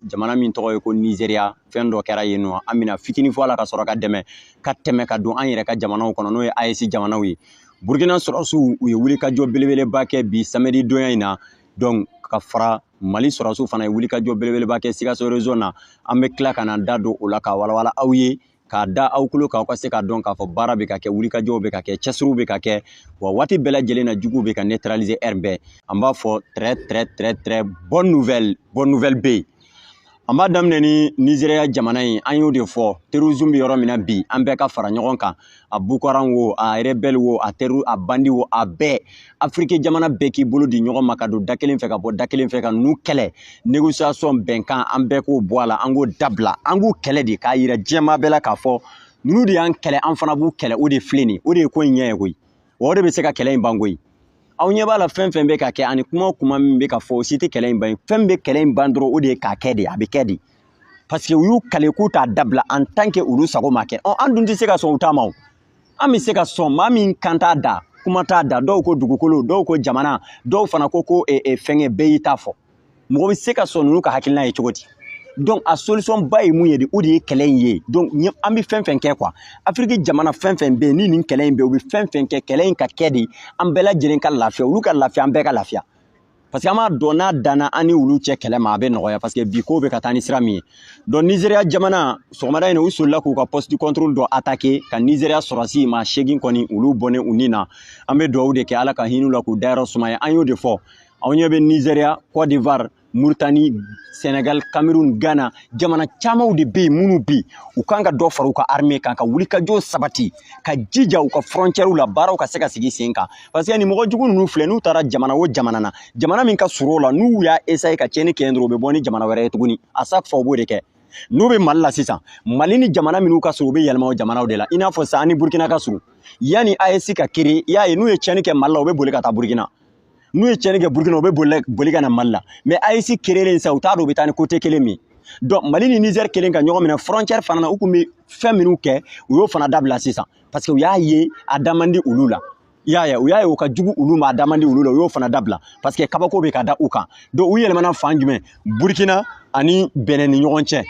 jamana min tɔgɔ ye ko nizeriya fɛn dɔ kɛra yen nɔ an bɛna fitini fɔ a la ka sɔrɔ ka dɛmɛ ka tɛmɛ ka don an yɛrɛ ka jamanaw kɔnɔ n'o ye AES jamanaw ye burukina sɔrɔsiw u ye wulikajɔ belebeleba kɛ bi samedi donya in na donc ka fara mali sɔrɔsiw fana ye wulikajɔ belebeleba kɛ sikaso région na an bɛ tila ka na da don o la ka walawala aw ye k'a da aw tulo kan aw ka se k'a dɔn k'a fɔ baara bɛ ka kɛ wulikajɔw bɛ ka kɛ cɛsiriw bɛ ka kɛ wa waati bɛɛ lajɛlen na juguw bɛ ka neutraliser heure bɛɛ an b'a fɔ très très très très bonne nouvelle bonne nouvelle bɛ yen an b'a daminɛ ni nizeriya jamana in an y'o de fɔ terrorisme bɛ yɔrɔ min na bi an bɛɛ ka fara ɲɔgɔn kan a boko haram wo a rebɛli wo a teru a bandi wo a bɛɛ afiriki jamana bɛɛ k'i bolo di ɲɔgɔn ma ka don da kelen fɛ ka bɔ da kelen fɛ ka n'u kɛlɛ négociation bɛnkan an bɛɛ k'o bɔ a la an k'o dabila an k'u kɛlɛ de k'a yira diɲɛmaa bɛɛ la k'a fɔ ninnu de y'an kɛlɛ an fana b'u kɛlɛ o de filɛ nin ye o de ye ko in ɲɛ ye koyi wa o de bɛ se ka kɛlɛ in ban koyi aw ɲɛ b'a la fɛn fɛn bɛ ka kɛ ani kuma o kuma min bɛ ka fɔ o si tɛ kɛlɛ in ban fɛn bɛ kɛlɛ in ban dɔrɔn o de ye k'a kɛ de a bɛ kɛ de parce que u y'u kale k'u t'a dabila en tant que olu sago ma kɛ ɔ an dun tɛ se ka sɔn u ta ma o an bɛ se ka sɔn maa min kan t'a da kuma t'a da dɔw ko dugukolo dɔw ko jamana dɔw fana ko ko e, e, fɛngɛ bɛɛ y'i ta fɔ mɔgɔ bɛ se ka sɔn ninnu ka hakilina ye cogo di donc a solution ba ye mun ye de o de ye kɛlɛ in ye donc an bɛ fɛn fɛn kɛ quoi afiriki jamana fɛn fɛn bɛ yen ni nin kɛlɛ in bɛ yen u bɛ fɛn fɛn kɛ kɛlɛ in ka kɛ de an bɛɛ lajɛlen ka lafiya olu ka lafiya an bɛɛ ka lafiya parce que an b'a dɔn n'a danna an ni olu cɛ kɛlɛ ma a bɛ nɔgɔya parce que bi ko bɛ ka taa ni sira min ye donc nizeriya jamana sɔgɔmada in u solila k'u ka poste de contrôle dɔ attaquer ka nizeriya sɔrɔsi maa seegin kɔni olu bɔnnen u ni na an bɛ dugawu de kɛ ala ka hin'u la k'u dayɔrɔ sumaya an y'o de fɔ aw ɲɛ bɛnɛ nizeriya côte d'ivoire moritani sénégal cameroun ghana jamana camanw de bɛ yen minnu bi u kan ka dɔ fara u ka armée kan ka wulikajɔ sabati ka jija u ka frontiɛriw la baaraw ka se ka sigi sen kan parce que nin mɔgɔ jugu ninnu filɛ n'u taara jamana o jamana na jamana min ka surun o la n'u y'a essayer ka tiɲɛni kɛ yen dɔrɔn u bɛ bɔ ni jamana wɛrɛ ye tuguni à chaque fois u b'o de kɛ n'u bɛ mali la sisan mali ni jamana minnu ka surun u bɛ yɛlɛma o jamanaw de la i n'a fɔ sisan an ni burukina ka surun yanni AES ka créer i y'a ye n'u ye tiɲɛni kɛ mali la u bɛ boli ka taa burukina n'u ye tiɲɛni kɛ burukina u bɛ boli boli ka na mali la mais AES créerlen sisan u t'a dɔn u bɛ taa ni côté kelen min donc mali ni nizɛri kelen ka ɲɔgɔn minɛ frontiɛri fana na u tun bɛ fɛn minnu kɛ u y'o fana dabila sisan parce que u y'a ye a da man di olu la i y'a ye u y'a ye o ka jugu olu ma a da man di olu la u y'o fana dabila parce que kabako bɛ ka da u kan donc u yɛlɛmana fan jumɛn burkina ani bɛnɛ ni ɲɔgɔn cɛ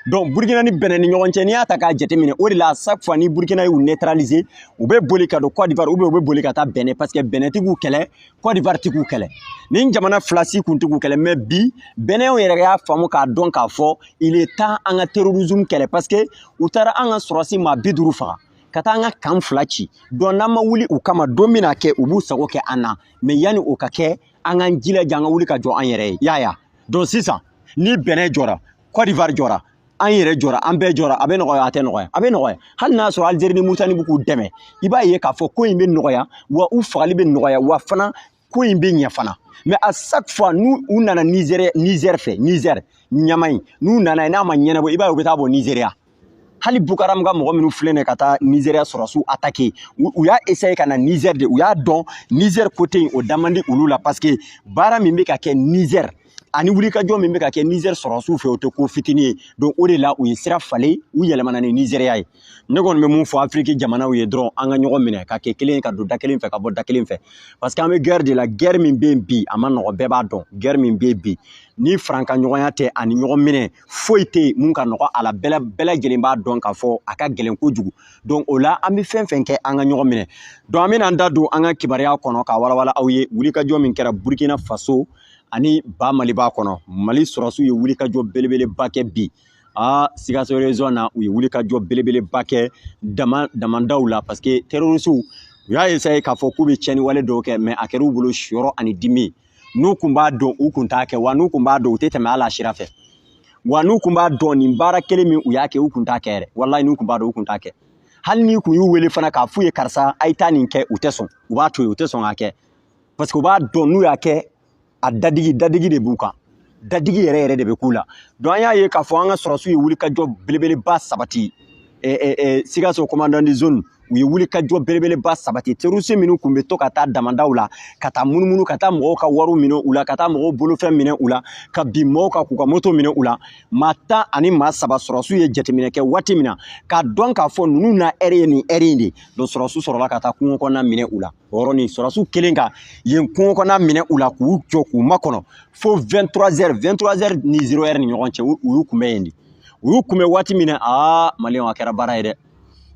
donc burkina ni bɛnɛ ni ɲɔgɔn cɛ n'i y'a ta k'a jateminɛ o de la à chaque fois ni burkina y'u neutraliser u bɛ boli ka don côte d'ivoire ou bien u bɛ boli ka taa bɛnɛ parce que bɛnɛtigiw kɛlɛ kɔdiwari tɛ k'u kɛlɛ nin jamana fila si kun tɛ k'u kɛlɛ mais bi bɛnɛw yɛrɛ y'a faamu k'a dɔn k'a fɔ il est temps an ka terrorisme kɛlɛ parce que u taara an ka sɔrɔsi maa bi duuru faga ka taa an ka camp fila ci donc n'an ma wuli u kama don bɛna kɛ u b'u sago kɛ an na mais yanni o ka kɛ an k'an jilaja an ka wuli ka jɔ an yɛrɛ ye y'a ye donc sisan ni bɛnɛ jɔra kɔdiwari jɔra an yɛrɛ jɔra an bɛɛ jɔra a bɛ nɔgɔya a tɛ nɔgɔya a bɛ nɔgɔya hali n'a y'a sɔrɔ Algérie ni Mauritanie bɛ k'u dɛmɛ i b'a ye k'a fɔ ko in bɛ nɔgɔya wa u fagali bɛ nɔgɔya wa fana ko in bɛ ɲɛ fana mais à chaque fois n'u u nana Niger Niger fɛ Niger ɲama in n'u nana yen n'a ma ɲɛnabɔ i b'a ye u bɛ taa bɔ Nigeria hali Boko Haram ka mɔgɔ minnu filɛ nin ka taa Nigeria sɔrɔsiw attaquer u y'a essayer ka na Niger de u y'a dɔn Niger côté in o da man di olu la parce que baara min bɛ ka kɛ Niger ani wulikajɔ min bɛ ka kɛ Niger sɔrɔsiw fɛ o tɛ ko fitinin ye donc o de la u ye sira falen u yɛlɛmana ni Nigeria ye ne kɔni bɛ min fɔ afiriki jamanaw ye dɔrɔn an ka ɲɔgɔn minɛ ka kɛ kelen ye ka don da kelen fɛ ka bɔ da kelen fɛ parce que an bɛ gɛrɛ de la gɛrɛ min bɛ yen bi a man nɔgɔ bɛɛ b'a dɔn gɛrɛ min bɛ yen bi ni farankanɲɔgɔnya tɛ ani ɲɔgɔn minɛ foyi tɛ yen min ka nɔgɔ a la bɛɛ lajɛlen b'a dɔn k'a fɔ a ka gɛlɛn kojugu donc o la an bɛ fɛn fɛn kɛ an ka ɲɔgɔn minɛ donc an bɛna an da don an ka kibaruya kɔnɔ k'a walawala aw ye wulikajɔ min kɛra burukina faso ani ba mali b'a kɔnɔ mali sɔrɔsiw ye wulikajɔ belebeleba kɛ bi a sikaso région na u ye wulikajɔ belebeleba kɛ dama damandaw la parce que terrorisiw u y'a essayer k'a fɔ k'u bɛ tiɲɛni wale dɔw kɛ mais a kɛra u bolo siyɔrɔ ani dimi n'u kun b'a dɔn u kun t'a kɛ wa n'u kun b'a dɔn u tɛ tɛmɛ hali a sira fɛ wa n'u kun b'a dɔn nin baara kelen min u y'a kɛ u kun t'a kɛ yɛrɛ walayi n'u kun b'a dɔn u kun t'a kɛ hali n'i kun y'u wele fana k'a f'u ye karisa a ye taa nin kɛ u tɛ sɔn u b'a to yen u tɛ sɔn k'a kɛ parce que u b'a dɔn n'u y'a kɛ a dadigi dadigi de b'u kan dadigi yɛrɛ yɛrɛ de bɛ k'u la donc an y'a ye k'a fɔ an ka sɔrɔsiw ye wulikajɔ belebeleba sabati sikaso commandant de zone u ye wulikajɔ belebeleba sabati terroriste minnu tun bɛ to ka taa damandaw la ka taa munumunu ka taa mɔgɔw ka wariw minɛ u la ka taa mɔgɔw bolofɛn minɛ u la ka bin mɔgɔw kan k'u ka moto minɛ u la maa tan ani maa saba sɔrɔsiw ye jateminɛ kɛ waati min na k'a dɔn k'a fɔ ninnu na ɛri ye nin ɛri in de ye donc sɔrɔsiw sɔrɔla ka taa kungo kɔnɔna minɛ u la o yɔrɔnin sɔrɔsiw kɛlen ka yen kungo kɔnɔna minɛ u la k'u jɔ k'u makɔnɔ fo 23 heures 23 heures ni 0 heure ni ɲɔgɔn cɛ u y'u kunbɛn yen de u y'u kunbɛn waati min na aa maliyɛnw a kɛra baara ye dɛ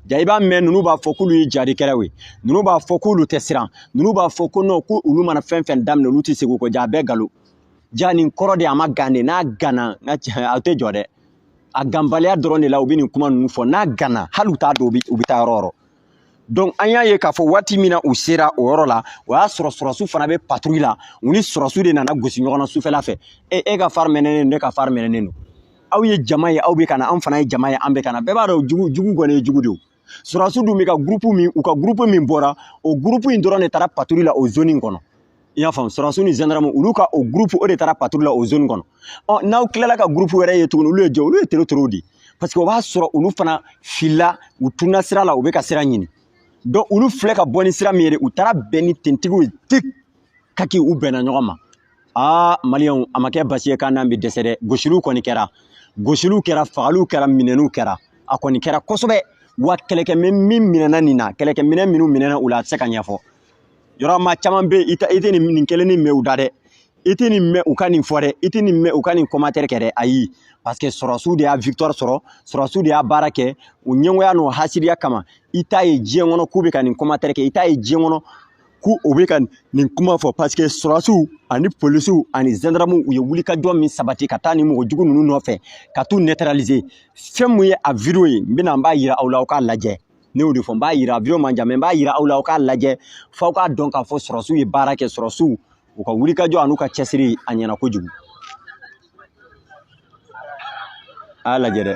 ja i b'a mɛn ninnu b'a fɔ k'olu ye jahadikɛlaw ye ninnu b'a fɔ k'olu tɛ siran ninnu b'a fɔ ko non ko olu mana fɛn fɛn daminɛ olu tɛ segin o kɔ ja a bɛɛ nkalon ja nin kɔrɔ de a ma gan de n'a ganna n ka a tɛ jɔ dɛ a ganbaliya dɔrɔn de la u bɛ nin kuma ninnu fɔ n'a ganna hali u t'a dɔn u bɛ taa yɔrɔ yɔrɔ donc an y'a ye k'a fɔ waati min na u sera o yɔrɔ la o y'a sɔrɔ sɔrɔsiw fana bɛ patrouille la u ni sɔrɔsiw de nana gosi ɲɔgɔn na sufɛla fɛ e e ka phare mɛnɛnen don ne ka phare mɛnɛnen don aw ye jama ye aw bɛ ka na an fana ye jama ye an bɛ ka na bɛɛ b'a dɔn jugu kɔni ye jugu de ye sɔrɔsiw dun bɛ ka gurupu min u ka gurupu min bɔra o gurupu in dɔrɔn de taara patrouille la o zoni in kɔnɔ i y'a faamu sɔrɔdasiw ni zandaramu olu ka o gurupu o de taara paturu la o zoni kɔnɔ ɔ n'aw tilala ka gurupu wɛrɛ ye tuguni olu ye jɔn olu ye tere terow de ye parce que o b'a sɔrɔ olu fana filila u tunna sira la u bɛ ka sira ɲini donc olu filɛ ka bɔ ni sira min ye u taara bɛn ni tenitigiw ye tik ka kɛ u bɛnna ɲɔgɔn ma aa maliyɛnw a ma kɛ basi ye k'an n'an bɛ dɛsɛ dɛ gosiliw kɔni kɛra gosiliw kɛra fagaliw kɛra minɛniw kɛra a kɔni kɛra kosɛbɛ wa kɛlɛkɛminɛn min minɛna nin na kɛlɛkɛminɛn minnu minɛna u la a tɛ se ka ɲɛfɔ yɔrɔ maa caman bɛ yen i tɛ nin nin kelen nin mɛn u da dɛ i tɛ nin mɛn u ka nin fɔ dɛ i tɛ nin mɛn u ka nin commentaire kɛ dɛ ayi parce que sɔrɔsiw de y'a victoire sɔrɔ sɔrɔsiw de y'a baara kɛ u ɲɛngoya n'u hasidiya kama i t'a ye diɲɛ kɔnɔ k'u bɛ ka nin commentaire kɛ i t'a ye diɲɛ kɔnɔ k'u bɛ ka nin kuma fɔ parce que sɔrɔsiw ani polisiw ani zɛndaramuw u ye wulikajɔ min sabati ka taa nin mɔgɔ jugu ninnu nɔfɛ ka t'u neutraliser fɛn mun ye a video ye n bɛna n b'a jira aw la aw k'a lajɛ ne y'o de fɔ n b'a yira video man jan mɛ n b'a yira aw la aw k'a lajɛ f'aw k'a dɔn k'a fɔ sɔrɔsiw ye baara kɛ sɔrɔsiw u ka wulikajɔ an'u ka cɛsiri a ɲɛna kojugu a y'a lajɛ dɛ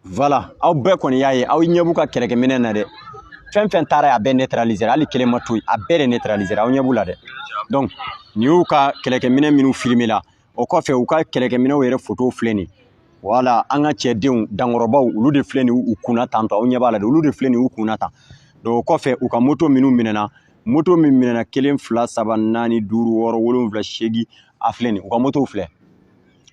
Voila aw bɛɛ kɔni y'a ye aw ɲɛ b'u ka kɛlɛkɛminɛn na dɛ fɛn fɛn taara a bɛɛ neutraliser hali kelen ma to yen a bɛɛ de neutraliser aw ɲɛ b'u la dɛ donc nin y'u ka kɛlɛkɛminɛn minnu filmer la o kɔfɛ u ka kɛlɛkɛminɛnw yɛrɛ fotow filɛ nin voila an ka cɛdenw dankɔrɔbaw olu de filɛ nin u kunna tan donc aw ɲɛ b'a la dɛ olu de filɛ nin u kunna tan donc o kɔfɛ u ka moto minnu minɛna moto min minɛna kelen fila saba naani duuru wɔɔrɔ wolonwula seegin a filɛ nin u ka motow filɛ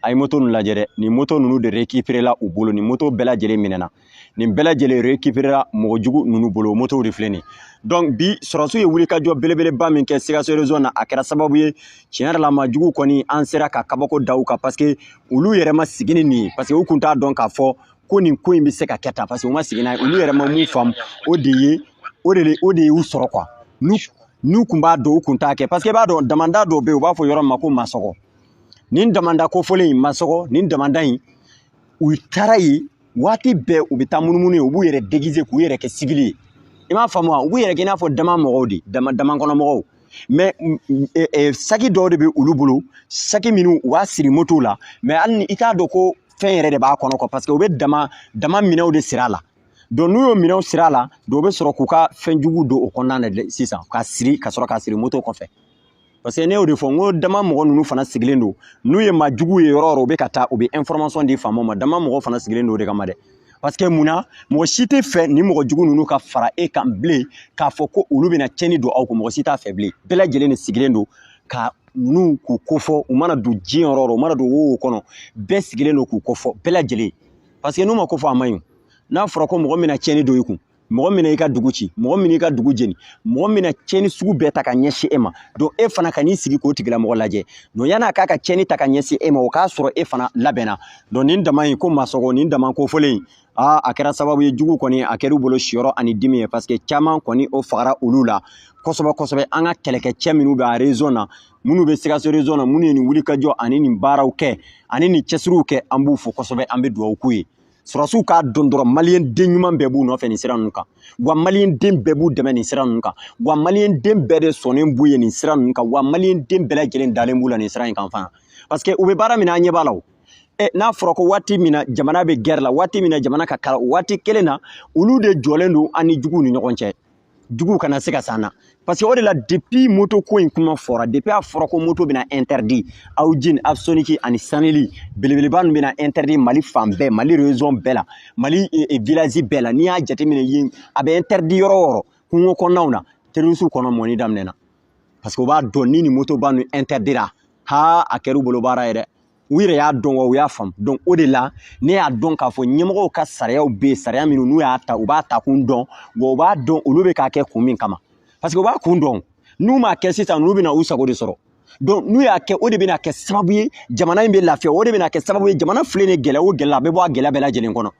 a ye moto ninnu lajɛ dɛ nin moto ninnu de récupéré la u bolo nin moto bɛɛ lajɛlen minɛna nin bɛɛ lajɛlen récupéré la mɔgɔ jugu ninnu bolo o motow de filɛ nin donc bi sɔrɔsiw ye wulikajɔ belebeleba min kɛ sikaso région na a kɛra sababu ye tiɲɛ yɛrɛ la maa jugu kɔni an sera ka kabako da u kan parce que olu yɛrɛ ma sigi ni nin ye parce que u kun t'a dɔn k'a fɔ ko nin ko in bɛ se ka kɛ tan paseke u ma sigi n'a ye olu yɛrɛ ma mun faamu o de ye o de o de y'u sɔrɔ kuwa n'u n'u kun b'a dɔn u kun t'a kɛ paseke i b'a dɔn damanda dɔw bɛ yen u b'a fɔ yɔrɔ min ma ko masɔgɔ nin damanda kofɔlen in masɔgɔ nin damanda in u taara yen waati bɛɛ u bɛ taa munumunu yen u b'u yɛrɛ degize k'u yɛrɛ kɛ siwili ye i m'a faamu wa u b'u yɛrɛ kɛ i n'a fɔ dama mɔgɔw de dama dama kɔnɔ mɔgɔw mɛ saki dɔw de bɛ olu bolo saki minnu u b'a siri motow la mɛ hali ni i t'a dɔn ko fɛn yɛrɛ de b'a kɔnɔ quoi parce que u bɛ dama dama minɛnw de siri a la donc n'u y'o minɛnw siri a la donc u bɛ sɔrɔ k'u ka fɛn jugu don o kɔnɔna na sisan ka siri ka sɔrɔ k'a siri moto kɔfɛ parce que ne y'o de fɔ n ko dama mɔgɔ ninnu fana sigilen don n'u ye maa jugu ye yɔrɔ o yɔrɔ u bɛ ka taa u bɛ information di faamaw ma dama mɔgɔ fana sigilen don o de kama dɛ parce que mun na mɔgɔ si t'a fɛ nin mɔgɔ jugu ninnu ka fara e kan bilen k'a fɔ ko olu bɛna tiɲɛni don aw kun mɔgɔ si t'a fɛ bilen bɛɛ lajɛlen de sigilen don ka ninnu k'u kofɔ u mana don diɲɛ yɔrɔ o yɔrɔ u mana don wo kɔnɔ bɛɛ sigilen don k'u kofɔ bɛɛ lajɛlen parce que n'u ma kofɔ a man ɲi n'a fɔra ko mɔgɔ min na tiɲɛni don i kun mɔgɔ min n'i ka dugu ci mɔgɔ min n'i ka dugu jeni mɔgɔ min na tiɲɛni sugu bɛɛ ta ka ɲɛsin e ma donc e fana kan'i sigi k'o tigilamɔgɔ lajɛ donc yan'a k'a ka tiɲɛni ta ka ɲɛsin e ma o k'a sɔrɔ e fana labɛnna donc nin dama in ko masɔgɔ nin dama kofɔlen in aa a kɛra sababu ye jugu kɔni a kɛr'u bolo siyɔrɔ ani dimi ye parce que caman kɔni o fagara olu la kosɛbɛ kosɛbɛ an ka kɛlɛkɛcɛ minnu bɛ a région na minnu bɛ sikaso région na minnu ye nin wulikajɔ ani nin baaraw kɛ ani nin cɛsiriw kɛ an b'u fo kosɛbɛ an bɛ dugawu k'u ye sɔrɔsiw k'a dɔn dɔrɔn maliyɛn den ɲuman bɛɛ b'u nɔfɛ nin sira ninnu kan wa maliyɛn den bɛɛ b'u dɛmɛ nin sira ninnu kan wa maliyɛn den bɛɛ de sɔnnen b'u ye nin sira ninnu kan wa maliyɛn den bɛɛ lajɛlen dalen b'u la nin sira in kan fana parce que u bɛ baara min na an ɲɛ b'a la o e n'a fɔra ko waati min na jamana bɛ guerre la waati min na jamana ka kalan waati kelen na olu de jɔlen don an ni juguw ni ɲɔgɔn cɛ juguw kana se ka s'an na parce que o de la depuis moto ko in kuma fɔra depuis a fɔra ko moto bɛna interdit haojin apsonic ani sanili belebeleba ninnu bɛna interdit mali fan bɛɛ mali région bɛɛ la mali e, e, village bɛɛ la n'i y'a jateminɛ yen a bɛ interdit yɔrɔ o yɔrɔ kungo kɔnɔnaw na terrorisiw kɔnɔ mɔni daminɛna parce que u b'a dɔn ni nin moto ba ninnu interdira ha a kɛr'u bolo baara ye dɛ u yɛrɛ y'a dɔn wa u y'a faamu donc o de la ne y'a dɔn k'a fɔ ɲɛmɔgɔw ka sariyaw bɛ yen sariya minnu n'u y'a ta u b'a ta kun dɔn wa u b'a dɔn olu bɛ k'a kɛ kun min kama parce que u b'a kun dɔn n'u m'a kɛ sisan ninnu bɛna u sago de sɔrɔ donc n'u y'a kɛ o de bɛna kɛ sababu ye jamana in bɛ lafiya o de bɛna kɛ sababu ye jamana filɛ nin gɛlɛya o gɛlɛya a bɛ bɔ a gɛlɛya bɛɛ lajɛlen kɔnɔ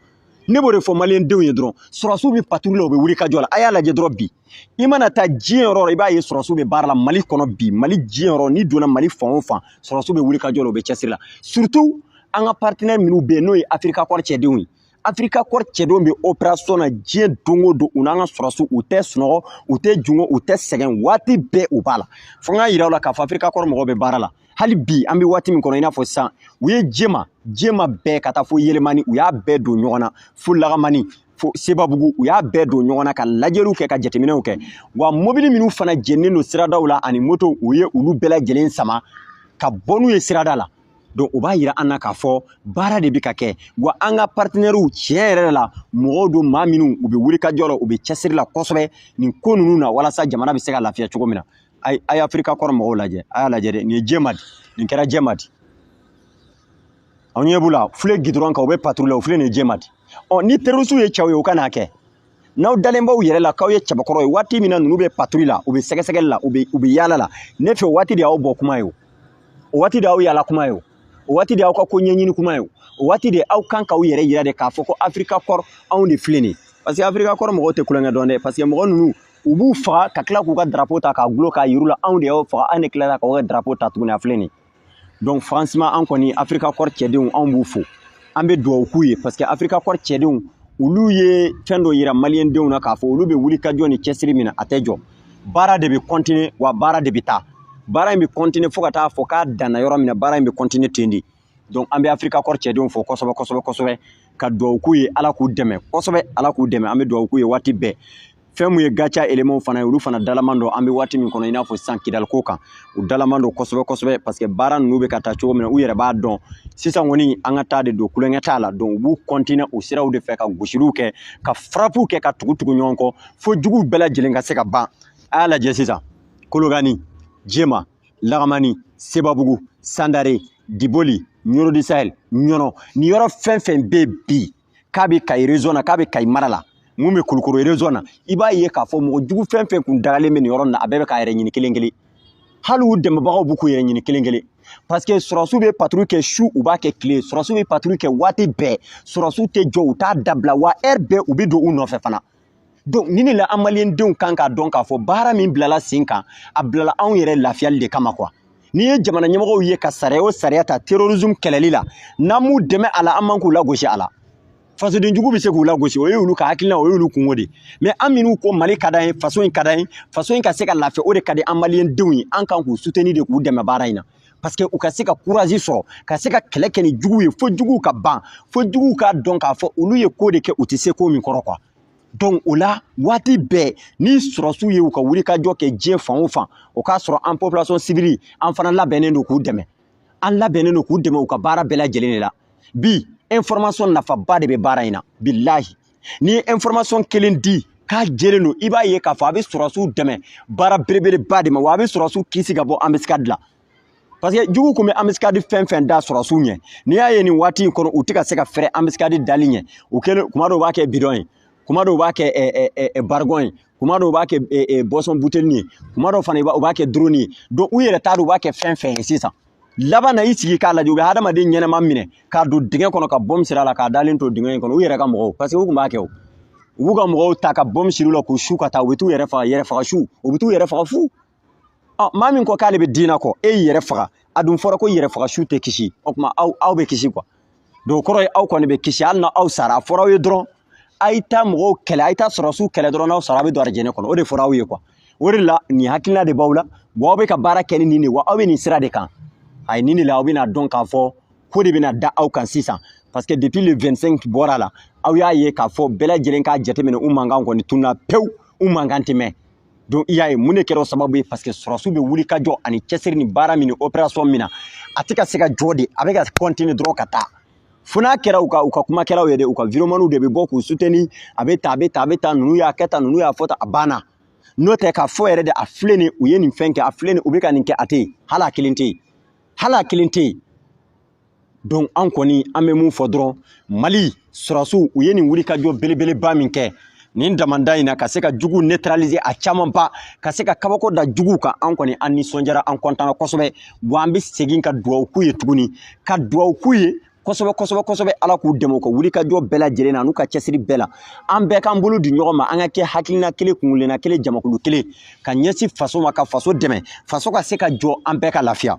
ne b'o de fɔ maliyɛndenw ye dɔrɔn sɔrɔsiw bɛ patrouille la u bɛ wulikajɔ la a y'a lajɛ dɔrɔn bi i mana taa diɲɛ yɔrɔ o yɔrɔ i b'a ye sɔrɔsiw bɛ baara la mali kɔnɔ bi mali diɲɛ yɔrɔ n'i donna mali fan o fan sɔrɔsiw bɛ wulikajɔ la u bɛ cɛsiri la surtout an ka partenaire minnu bɛ yen n'o ye africa corps cɛdenw ye africa corps cɛdenw bɛ opération na diɲɛ don o don u n'an ka sɔrɔsiw u tɛ sunɔgɔ u tɛ jingɔ u tɛ sɛgɛn waati bɛɛ u b'a la fo n k'a yira u la k'a fɔ africa corps mɔgɔw bɛ baara la hali bi an bɛ waati min kɔnɔ i n'a fɔ sisan u ye jema jema bɛɛ ka taa fo yelimani u y'a bɛɛ don ɲɔgɔn na fo lakamani fo sebabugu u y'a bɛɛ don ɲɔgɔn na ka lajɛliw kɛ ka jateminɛw kɛ wa mobili minnu fana jeninen don siradaw la ani moto u ye olu bɛɛ lajɛlen sama ka bɔ n'u ye sirada la donc o b'a yira an na k'a fɔ baara de bɛ ka kɛ wa an ka partenairew tiɲɛ yɛrɛ la mɔgɔw don maa minnu u bɛ wulikajɔ la u bɛ cɛsiri la kosɛbɛ nin ko ninnu na walasa jamana bɛ se ka lafiya cogo min na a ye africa corps mɔgɔw lajɛ a y'a lajɛ dɛ nin ye jɛma di nin kɛra jɛma di aw ɲɛ b'u la filɛ gidɔrɔn kan u bɛ paturu la u filɛ nin jema di ɔ ni terorisiw ye cɛw ye u ka n'a kɛ n'aw dalen b'aw yɛrɛ la k'aw ye cɛbakɔrɔ ye waati min na ninnu bɛ paturu la u bɛ sɛgɛsɛgɛli la u bɛ u bɛ yaala la ne fɛ waati de y'aw bɔ kuma ye o waati de y'aw yaala kuma ye o waati de y'aw ka ko ɲɛɲini kuma ye o waati de aw kan k'aw yɛrɛ yira de k'a fɔ ko africa corps anw de filɛ nin ye parce que africa corps mɔgɔw tɛ kulonkɛ dɔn dɛ parce que mɔgɔ ninnu u b'u faga ka tila k'u ka darapo ta k'a gulon k'a yir'u la anw de y'aw faga an de tilara k'aw ka darapo ta tuguni a filɛ nin ye donc franchement an kɔni africa corps cɛdenw anw b'u fo an bɛ dugawu k'u ye parce que africa corps cɛdenw olu ye fɛn dɔ yira maliyɛndenw na k'a fɔ olu bɛ wuli ka jɔ ni cɛsiri min na a tɛ jɔ baara de bɛ kɔntine wa baara de bɛ taa baara in bɛ kɔntine fo ka taa fɔ k'a danna yɔrɔ min na baara in bɛ kɔntine ten de donc an bɛ africa corps cɛdenw fo kosɛbɛ kosɛbɛ kosɛbɛ ka dugawu k'u ye ala k'u dɛmɛ kosɛbɛ ala k'u dɛmɛ an bɛ dugawu k'u ye waati bɛɛ fɛn min ye gatia elemanw fana ye olu fana dalaman don an bɛ waati min kɔnɔ i n'a fɔ sisan kidal ko kan u dalaman don kosɛbɛ kosɛbɛ parce que baara ninnu bɛ ka taa cogo min na u yɛrɛ b'a dɔn sisan kɔni an ka taa de don kulonkɛ t'a la donc u b'u kɔntine o siraw de fɛ ka gosiliw kɛ ka farapuw kɛ ka tugu tugu ɲɔgɔn kɔ fo juguw bɛɛ lajɛlen ka se ka ban a y'a lajɛ sisan kolokani jema lagamani sebabugu sandare diboli ɲɔrɔ du sahel ɲɔnɔ nin yɔrɔ fɛn fɛn bɛ bi k'a bɛ kayi région na k'a bɛ kayi mara la min bɛ kulukoro région na i b'a ye k'a fɔ mɔgɔ jugu fɛn fɛn kun dagalen bɛ nin yɔrɔ in na a bɛɛ bɛ k'a yɛrɛ ɲini kelen kelen hali u dɛmɛbagaw bɛ k'u yɛrɛ ɲini kelen kelen parce que sɔrɔsiw bɛ paturu kɛ su u b'a kɛ tile sɔrɔsiw bɛ paturu kɛ waati bɛɛ sɔrɔsiw tɛ jɔ u t'a dabila wa ɛri bɛɛ u bɛ don u nɔfɛ fana donc nin de la an maliyɛndenw kan k'a dɔn k'a fɔ baara min bilala sen kan a bilala anw yɛrɛ lafiyali de kama kuwa n'i ye jamana ɲɛmɔgɔw ye ka sariya o sariya ta terrorisme kɛlɛli la n'an m'u dɛmɛ a la an man k'u lagosi a la fasoden jugu bɛ se k'u lagosi o ye olu ka hakilina o ye olu kungo de ye mɛ an minnu ko mali ka d'an ye faso in ka d'an ye faso in ka se ka lafiya o de ka di an maliyɛndenw ye an kan k'u suteni de k'u dɛmɛ baara in na paseke u ka se ka kurazi sɔrɔ ka se ka kɛlɛ kɛ ni jugu ye fo juguw ka ban fo juguw k'a dɔn k'a fɔ olu ye ko de kɛ u tɛ se ko min kɔrɔ kuwa donc o la waati bɛɛ ni sɔrɔsiw ye u ka wulikajɔ kɛ diɲɛ fan o fan u k'a sɔrɔ an population civile an fana labɛnnen don k'u dɛmɛ an labɛnnen don k'u dɛmɛ u ka baara bɛɛ lajɛlen de la bi information nafaba de bɛ baara in na bilahi n'i ye information kelen di k'a jɛlen don i b'a ye k'a fɔ a bɛ sɔrɔsiw dɛmɛ baara belebeleba de ma wa a bɛ sɔrɔsiw kisi ka bɔ anbisikadi la parce que jugu kun bɛ anbisikadi fɛn fɛn da sɔrɔsiw ɲɛ n'i y'a ye nin waati in kɔnɔ u tɛ ka se ka fɛrɛ anbisikadi dali ɲɛ u kɛlen kuma dɔw u b'a kɛ bidɔn ye kuma dɔw u b'a kɛ barigɔn ye kuma dɔw u b'a kɛ buwasɔn buteli ye kuma dɔw fana u b'a kɛ dɔrɔni ye donc u yɛrɛ t'a dɔn u b'a kɛ fɛn fɛn ye sisan laban na i sigi k'a lajɛ u bɛ hadamaden ɲɛnama minɛ k'a don dingɛ kɔnɔ ka bombe siri a la k'a dalen to dingɛ in kɔnɔ u yɛrɛ ka mɔgɔw parce que u tun b'a kɛ o u b'u ka mɔgɔw ta ka bombe siri u la k'u su ka taa u bɛ t'u yɛrɛ faga yɛrɛ faga su u bɛ t'u yɛrɛ faga fu ɔ maa min ko k'ale bɛ diinɛ kɔ e y'i yɛrɛ faga a dun fɔra ko yɛrɛ faga su tɛ kisi o tuma aw aw bɛ kisi quoi donc kɔrɔ ye aw kɔni bɛ kisi hali na aw sara a fɔra aw ye dɔrɔn a ye taa mɔgɔw kɛlɛ a ye taa sɔrɔsiw kɛlɛ dɔrɔn n'aw sara a bɛ don arijinɛ kɔnɔ o de fɔra aw ye quoi o de la nin hakilina de b'aw la wa aw bɛ ka baara kɛ ni nin de wa aw bɛ nin sira de kan a ye nin de la aw bɛna dɔn k'a fɔ ko de bɛna da aw kan sisan parce que depuis le 25 bɔra la aw y'a ye k'a fɔ bɛɛ lajɛlen k'a jateminɛ u mankan kɔni tunna pewu u mankan tɛ mɛn donc i y'a ye mun de kɛra o sababu ye parce que sɔrɔsiw bɛ wuli ka jɔ ani cɛsiri ni baara min ni opération min na a tɛ ka se ka jɔ de a bɛ ka continuer dɔrɔn ka taa fo n'a kɛra u ka u ka kumakɛlaw ye dɛ u ka vidéomanw de bɛ bɔ k'u soutenir a bɛ tan a bɛ tan a bɛ tan ninnu y'a kɛ tan ninnu y'a fɔ tan a banna n'o tɛ k'a fɔ yɛrɛ de a filɛ nin u ye nin fɛn kɛ a filɛ nin u bɛ ka nin kɛ a tɛ yen hali a kelen tɛ yen hali a kelen tɛ yen donc an kɔni an bɛ mun fɔ dɔrɔn mali sɔrɔsiw u ye nin wulikajɔ belebeleba min kɛ nin damanda in na ka se ka jugu neutraliser a camanba ka se ka kabako da jugu kan an kɔni an nisɔndiyara an kɔntana kosɛbɛ wa an bɛ segin ka dugawu k'u ye tuguni ka dugawu k'u ye kosɛbɛ kosɛbɛ kosɛbɛ ala k'u dɛmɛ u ka wulikajɔ bɛɛ lajɛlen na n'u ka cɛsiri bɛɛ la an bɛɛ k'an bolo di ɲɔgɔn ma an ka kɛ hakilina kelen kuntilenna kelen jamakulu kelen ka ɲɛsin faso ma ka faso dɛmɛ faso ka se ka jɔ an bɛɛ ka lafiya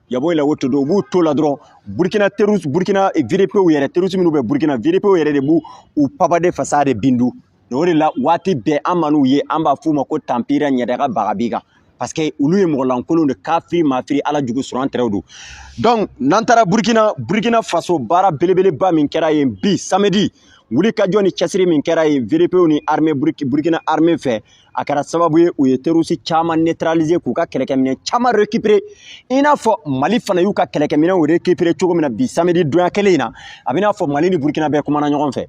yabo la woto do b'u to la dɔrɔn burkina terroriste burkina eh, VDPw yɛrɛ terroriste minnu bɛ burkina VDPw yɛrɛ de b'u u papade fasa de bindu o de la waati bɛɛ an man'u ye an b'a f'u ma ko tanpira ɲɛdaga baga biga parce que olu ye mɔgɔ lankolon de kafiri mafiri ala jugu sɔrɔ an tɛrɛw don donc n'an taara burkina burkina faso baara belebeleba min kɛra yen bi samedi wulikajɔ ni cɛsiri min kɛra yen VDPw ni armée burkina armée fɛ a kɛra sababu ye u ye terroriste caman neutraliser k'u ka kɛlɛkɛminɛ caman récupérer i n'a fɔ mali fana y'u ka kɛlɛkɛminɛw récupérer cogo min na bi samedi donya kelen in na a bɛ n'a fɔ mali ni burkina bɛɛ kumana ɲɔgɔn fɛ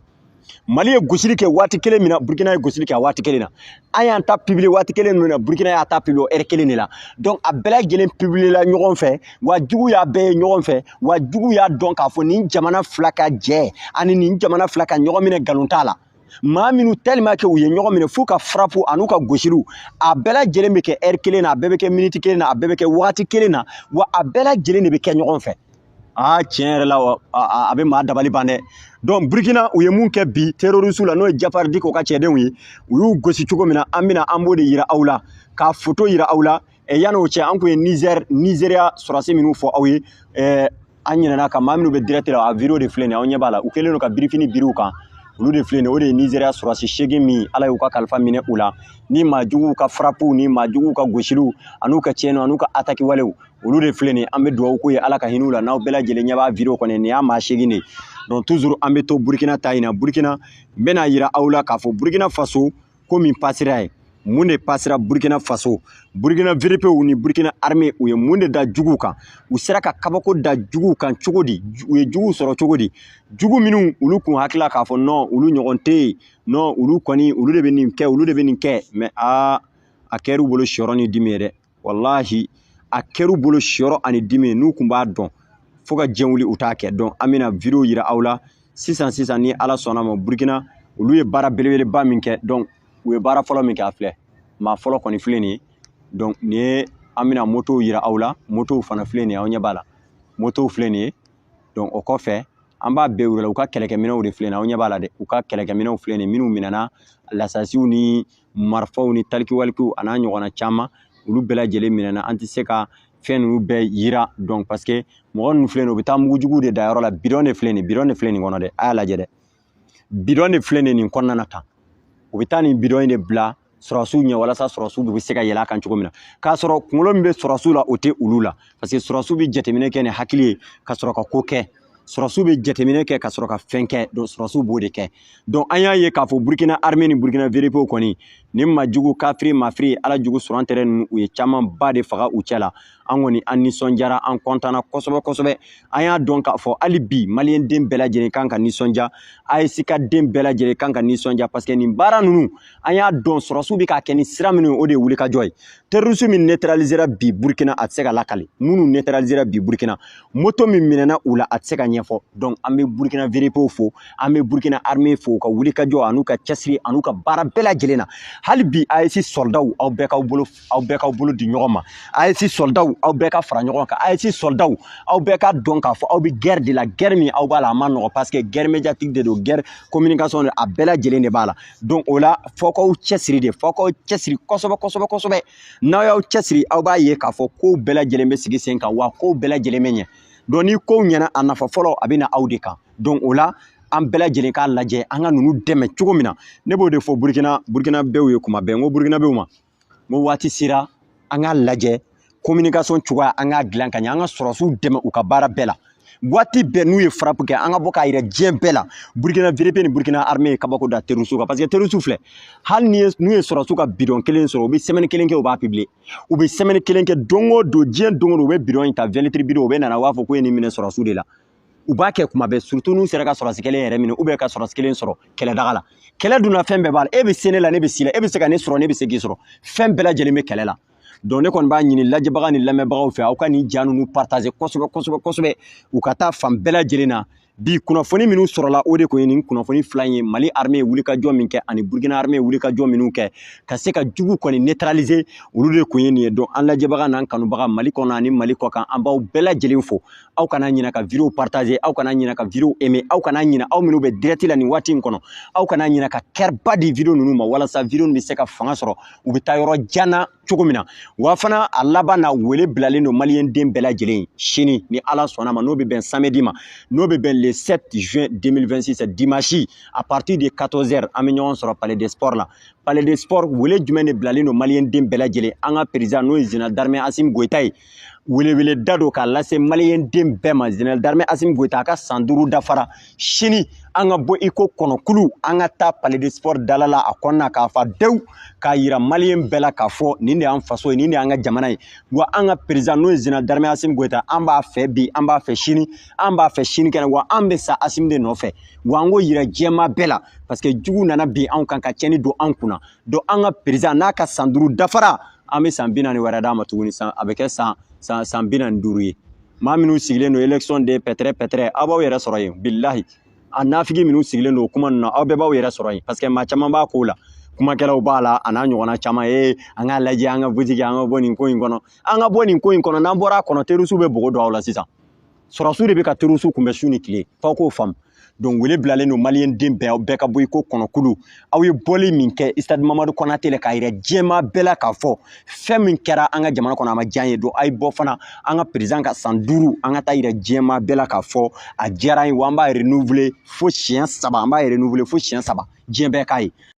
mali ye gosili kɛ waati kelen min na burkina ye gosili kɛ a waati kelen na an y'an ta publier waati kelen min na burkina y'a ta publier o heure kelen de la donc a bɛɛ lajɛlen publier la ɲɔgɔn fɛ wa jugu y'a bɛɛ ye ɲɔgɔn fɛ wa jugu y'a dɔn k'a fɔ nin jamana fila ka jɛ ani nin jamana fila ka ɲɔgɔn minɛ nkalon t'a la maa minnu tellement que u ye ɲɔgɔn minɛ f'u ka frappe an'u ka gosiliw a bɛɛ lajɛlen bɛ kɛ heure kelen na a bɛɛ bɛ kɛ miniti kelen na a bɛɛ bɛ kɛ wagati kelen na wa a bɛɛ lajɛlen de bɛ kɛ ɲɔgɔn fɛ aa tiɲɛ yɛrɛ la a bɛ maa dabali ban dɛ donc burkina u ye mun kɛ bi terroristew la n'o ye jafar diko ka cɛdenw ye u y'u gosi cogo min na an bɛna an b'o de yira aw la k'a foto yira aw la yan'o cɛ an kun ye nizɛri nizeriya sɔrɔsi minnu fɔ aw ye an ɲinɛna ka maa minnu bɛ dirɛti la a video de filɛ nin ye aw ɲɛ b'a la u kɛlen don ka birifini biri u kan olu de filɛ nin ye o de ye nizeriya sɔrɔsi seegin min ala y'u ka kalifa minɛ u la ni maa juguw ka farapuw ni maa juguw ka gosiliw an'u ka tiɲɛniw an'u ka ataki walew olu de filɛ nin ye an bɛ dugawu k'u ye ala ka hin'u la n'aw bɛɛ lajɛlen ɲɛ b'a video kɔnɔ nin y'a maa seegin de ye donc toujours an bɛ to burukina ta in na burukina n bɛna yira aw la k'a fɔ burukina faso ko min pasira ye mun de pasira burkina faso burkina VDPw ni burkina arme u ye mun de da juguw kan u sera ka kabako da juguw kan cogo di u ye juguw sɔrɔ cogo di jugu minnu olu kun hakili la k'a fɔ nɔn olu ɲɔgɔn tɛ yen nɔn olu kɔni olu de bɛ nin kɛ olu de bɛ nin kɛ mɛ aa a kɛr'u bolo siyɔrɔ ni dimi ye dɛ walahi a kɛr'u bolo siyɔrɔ ani dimi n'u kun b'a dɔn fo ka diɲɛ wuli u t'a kɛ donc an bɛna video yira aw la sisan sisan ni ala sɔnn'a ma burukina olu ye baara belebeleba min kɛ donc u ye baara fɔlɔ min kɛ a filɛ maa fɔlɔ kɔni filɛ nin ye donc nin ye an bɛna motow yira aw la motow fana filɛ nin ye aw ɲɛ b'a la motow filɛ nin ye donc o kɔfɛ an b'a bɛɛ wele u ka kɛlɛkɛminɛw de filɛ nin ye aw ɲɛ b'a la dɛ u ka kɛlɛkɛminɛw filɛ nin ye minnu minɛna lasasiw ni marifaw ni talikiwalikiw a n'a ɲɔgɔnna caman olu bɛɛ lajɛlen minɛna an tɛ se ka fɛn ninnu bɛɛ yira donc parce que mɔgɔ ninnu filɛ nin u bɛ taa mugujugu de da yɔrɔ la bidɔn de filɛ nin bidɔn de filɛ nin kɔnɔ dɛ a y'a lajɛ dɛ bidɔn de filɛ nin nin kɔnɔna na tan u bɛ taa nin bidɔn in de bila sɔrɔsiw ɲɛ walasa sɔrɔsiw bɛ se ka yɛlɛ a kan cogo min na k'a sɔrɔ kunkolo min bɛ sɔrɔsiw la o tɛ olu la parce que sɔrɔsiw bɛ jateminɛ kɛ ni hakili ye ka sɔrɔ ka ko kɛ sɔrɔsiw bɛ jateminɛ kɛ ka sɔrɔ ka fɛn kɛ donc sɔrɔsiw b'o de kɛ donc an y'a ye k'a fɔ burukina armée ni burukina VDPw kɔni nin maa jugu kafiri mafiri ala jugu sɔrɔ tɛrɛ ninnu u ye camanba de faga u cɛ la an kɔni an nisɔndiyara an kontanna kosɛbɛ kosɛbɛ an y'a dɔn k'a fɔ hali bi maliyɛnden bɛɛ lajɛlen kan ka nisɔndiya AES ka den bɛɛ lajɛlen kan ka nisɔndiya parce que nin baara ninnu an y'a dɔn sɔrɔsiw bɛ k'a kɛ ni sira minnu ye o de ye wulikajɔ ye terroriste min neutralisera bi burkina a tɛ se ka lakali minnu neutralisera bi burkina moto min minɛna u la a tɛ se ka ɲɛfɔ donc an bɛ burkina VDPw fo an bɛ burkina armée fo u ka wulikajɔ an'u ka cɛsiri an'u ka baara bɛɛ lajɛlen na hali bi AES sɔrɔdaw aw bɛɛ k'aw bolo aw bɛɛ k'aw bolo di ɲɔgɔn ma AES sɔrɔdaw aw bɛɛ ka fara ɲɔgɔn kan AES sɔrɔdaw aw bɛɛ ka dɔn k'a fɔ aw bɛ guerre de la guerre min aw b'a la a ma nɔgɔ parce que guerre médiatique de don guerre communication de a bɛɛ lajɛlen de b'a la donc o la fo k'aw cɛsiri de fo k'aw cɛsiri kosɛbɛ kosɛbɛ kosɛbɛ n'aw y'aw cɛsiri aw b'a ye k'a fɔ kow bɛɛ lajɛlen bɛ sigi sen kan wa kow bɛɛ lajɛlen bɛ ɲɛ donc ni kow ɲɛna a nafa fɔlɔ a bɛ na aw de kan donc o la an bɛɛ lajɛlen k'a lajɛ an ka ninnu dɛmɛ cogo min na ne b'o de fɔ burukina burukinabew ye kuma bɛɛ n ko burukinabew ma n ko waati sera an k'a lajɛ communication cogoya an k'a dilan ka ɲɛ an ka sɔrɔsiw dɛmɛ u ka baara bɛɛ la waati bɛɛ n'u ye frappe kɛ an ka bɔ k'a yira diɲɛ bɛɛ la burukina vdp ni burukina armée ye kabako da terrorisiw kan parce que terrorisiw filɛ hali n'u ye sɔrɔsiw ka bidɔn kelen sɔrɔ u bɛ semaine kelen kɛ u b'a publier u bɛ semaine kelen kɛ don o don diɲɛ don o don u bɛ bidɔn in ta 20 litres bidɔn u bɛ nana u b'a fɔ k'u ye nin minɛ sɔrɔsiw de la u b'a kɛ kumaba ye surtout n'u sera ka sɔrɔsi kelen yɛrɛ minɛ ou bien ka sɔrɔsi kelen sɔrɔ kɛlɛdaga la kɛlɛ dunna fɛn bɛɛ b'a la e bɛ se ne la ne bɛ s'i la e bɛ se ka ne sɔrɔ ne bɛ se k'i sɔrɔ fɛn bɛɛ lajɛlen bɛ kɛlɛ la donc ne kɔni b'a ɲini lajɛbaga ni lamɛnbagaw fɛ aw ka nin ja ninnu partager kosɛbɛ kosɛbɛ kosɛbɛ u ka taa fan bɛɛ lajɛlen na bi kunnafoni minnu sɔrɔla o de kun ye nin kunnafoni fila in ye mali armée ye wulikajɔ min kɛ ani burkina armée ye wulikajɔ minnu kɛ ka se ka jugu kɔni neutraliser olu de kun ye nin ye donc an lajɛbaga n'an kanubaga mali kɔnɔ ani mali kɔkan an b'aw bɛɛ lajɛlen fo aw kana ɲina ka video partager aw kana ɲina ka video aimer aw kana ɲina aw minnu bɛ direct la nin waati in kɔnɔ aw kana ɲina ka cœur ba di video ninnu ma walasa video bɛ se ka fanga sɔrɔ u bɛ taa yɔrɔ jan na cogo min na wa fana a laban na wele bilalen don maliyɛn den bɛɛ lajɛlen sini ni ala sɔnna ma n'o bɛ bɛn samedi ma n'o bɛ bɛn le 7 juin 2026 dimanche à partir de 14 heures an bɛ ɲɔgɔn sɔrɔ palais des sports la palais des sports wele jumɛn de bilalen don maliyɛn den bɛɛ lajɛlen an ka perezan n'o ye général d'armée asimi goyita ye weleweleda don k'a lase maliyɛn den bɛɛ ma général d'armée asimi goyita a ka san duuru dafara sini an ka bɔ iko kɔnɔkulu an ka taa palais des sports dala la a kɔnɔna k'a fa dewu k'a yira maliyɛn bɛɛ la k'a fɔ nin de y'an faso ye nin de y'an ka jamana ye wa an ka perezan n'o ye général d'armée asimi goyita an b'a fɛ bi an b'a fɛ sini an b'a fɛ sinikɛnɛ wa an bɛ sa asimi de nɔfɛ wa an k'o yira diɲɛmaa bɛɛ la parce que jugu nana bin anw kan ka tiɲɛni don anw kunna donc an ka perezan n'a ka san duuru dafara an bɛ san bi naani wɛrɛ d'a ma tuguni san a bɛ kɛ san san san bi naani duuru ye maa minnu sigilen don élection de pɛtɛrɛ pɛtɛrɛ aw b'aw yɛrɛ sɔrɔ yen bilahi a nafigi minnu sigilen don o kuma ninnu na aw bɛɛ b'aw yɛrɛ sɔrɔ yen parce que maa caman b'a ko la kumakɛlaw b'a la a n'a ɲɔgɔnna caman ye an k'a lajɛ an ka butigi an ka bɔ nin ko in kɔnɔ an ka bɔ nin ko in kɔnɔ n'an bɔra a kɔnɔ terrorisiw bɛ bogo don aw la sisan sɔrɔsiw de bɛ ka terroristes kunbɛn su ni tile f'aw k'o faamu donc wele bilalen don maliyɛn den bɛɛ bɛɛ ka bɔ i ko kɔnɔkulu aw ye bɔli min kɛ stade mamadu konate la k'a yira diɲɛmaa bɛɛ la k'a fɔ fɛn min kɛra an ka jamana kɔnɔ a ma diya an ye donc a ye bɔ fana an ka perezan ka san duuru an ka taa yira diɲɛmaa bɛɛ la k'a fɔ a diyara an ye wa an b'a renouveler fo siɲɛ saba an b'a renouveler fo siɲɛ saba diɲɛ bɛɛ k'a ye